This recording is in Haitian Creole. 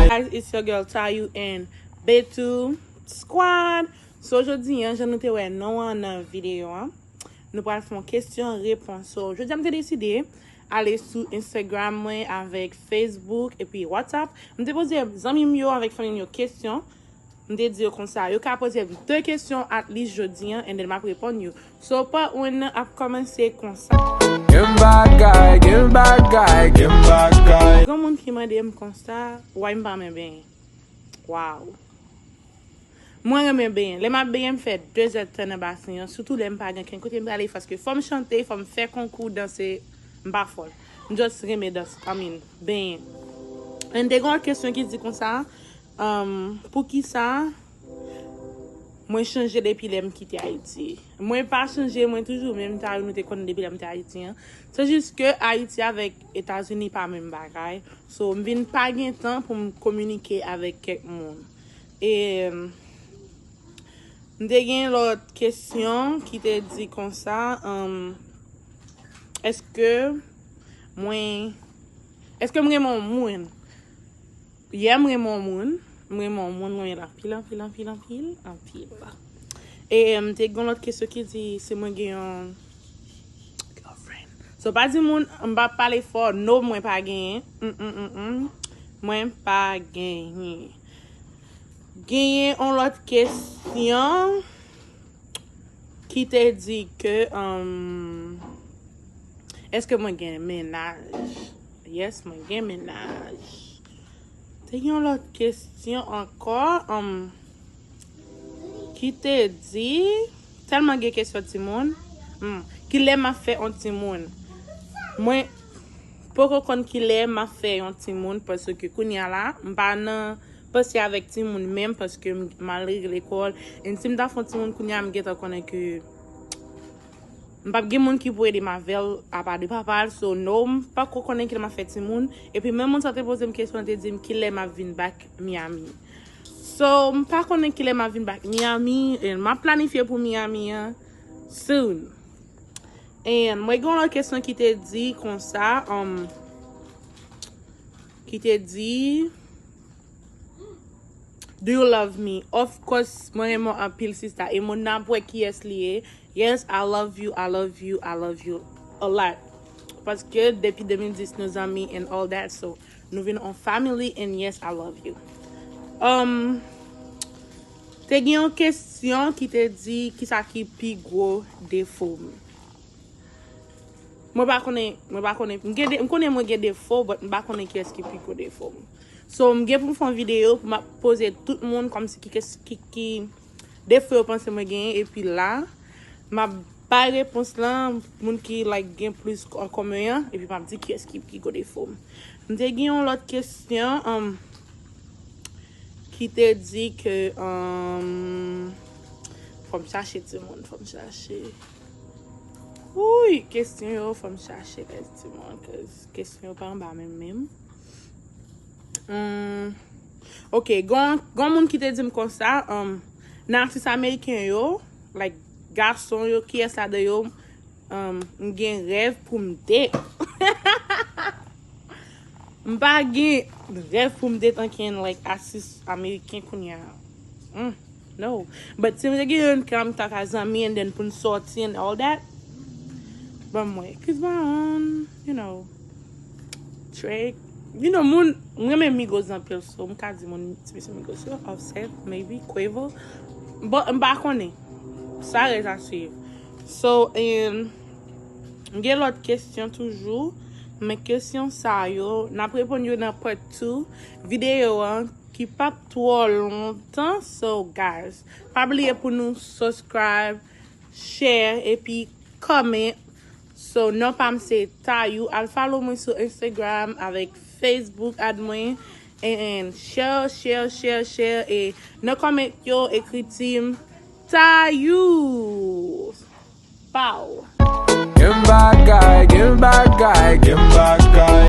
Guys it's your girl Tayou and Bettou Squad So jodi an jan nou te wè non an nan video an Nou pral fon kesyon repons So jodi an m te deside Ale sou Instagram mwen avèk Facebook epi WhatsApp M te poze zanmi m yo avèk fanmi m yo kesyon M te di yo konsa, yo ka poze m 2 kesyon at least jodi an and then m ap reponn yo. So part 1 nan ap kòmanse konsa. Gon moun ki mande m konsa, why m pa renmen benyen? Wow! Mwen renmen benyen. Lè m ap benyen m fè 2 zèd tan nan basen an, sitou lè m pa gen ken kote m prale paske fò m chante, fò m fè konkou danse, m pa fò l. M just renmen danse, I mean, benyen. And te gen yon lòt kesyon ki di konsa, Humm poukisa Mwen chanje depi lèm kite ayiti Mwen pa chanje mwen toujou menm sa yo nou te konnen depi lèm te ayiti an se jis ke ayiti avèk etazini pa menm bagay so m vin pa gen tan pou m kominike avèk kèk moun e m te gen lòt kesyon ki te di konsa humm eske mwen eske m renmen yon moun. Yeah m renmen w moun. M renmen w moun mwen anpil anpil anpil anpil anpil. E m te gen lòt kesyon ki di si mwen gen yon girlfriend. So pa di moun m pa pale fò no mwen pa genyen humm mwen pa genyen. Genyen yon lòt kesyon ki te di ke eske mwen gen mennaj. Yes mwen gen mennaj. Te gen yon lòt kesyon ankò um, ki te di, tèlman gen kesyon timoun, um, kilè map fè yon timoun? Mwen poko konn kilè map fè yon timoun paske kounya la m pa nan panse avèk timoun menm paske m al lekòl and si m ta fè yon timoun kounya m gentan konnen ke M pap gen moun ki pou edem avèl apa de papal so no m pako konnen kilè map fè timoun epi menm moun sa te pozem kesyon li te dim kilè map vin back Miami so m pa konnen kilè map vin back Miami and map planifye pou Miami an soon and mwen gen yon lòt kesyon ki te di konsa um ki te di do you love me of course mwen renmen w anpil sista e moun nan ap wè kiyès li ye. Yes I love you I love you I love you a lot paske depi 2010 nou zanmi and all that so nou vin on family and yes I love you um te gen yon kesyon ki te di kisa ki pi gwo defo m mwen pa konnen mwen pa konnen m gen m konnen mwen gen defo but m pa konnen kiyès ki pi gwo defo m so m gen pou m fè yon videyo pou m ap poze tout moun kòmsi ki ki Defo yo panse mwen genyen epi la map bay repons lan moun ki like gen plis an komen an epi map di kiyès ki pi gwo defo m. M te gen yon lòt kesyon um ki te di ke um fò m chache timoun fò m chache Wouyy kesyon yo fò m chache guys timoun cuz kesyon yo pa anba menm menm. Humm ok gon gon moun ki te dim konsa humm nan atis ameriken yo like gason yo kiyès ladan yo humm m gen rèv poum date hahahaha m pa gen rèv poum date ankenn like atis ameriken kounya humm. No but si nou te gen youn kèm ta ka zanmi and then poun sòti and all that banm wè chris brown you know drake you know moun m renmen migos anpil so m ka di moun ti mesye migos yo offset maybe quavo but m pa konnen sa rèz a swiv so and m gen lòt kesyon toujou men kesyon sa yo nap reponn yo nan part two videyo an ki pap Twò lontan so guys pa bliye pou nou suscribe share epi comment so non pam se tayou al follow mwen sou Instagram avèk Facebook ad mwen and share share share share e nan comment yo ekri team tayou paww. Gen bagay, gen bagay, gen bagay.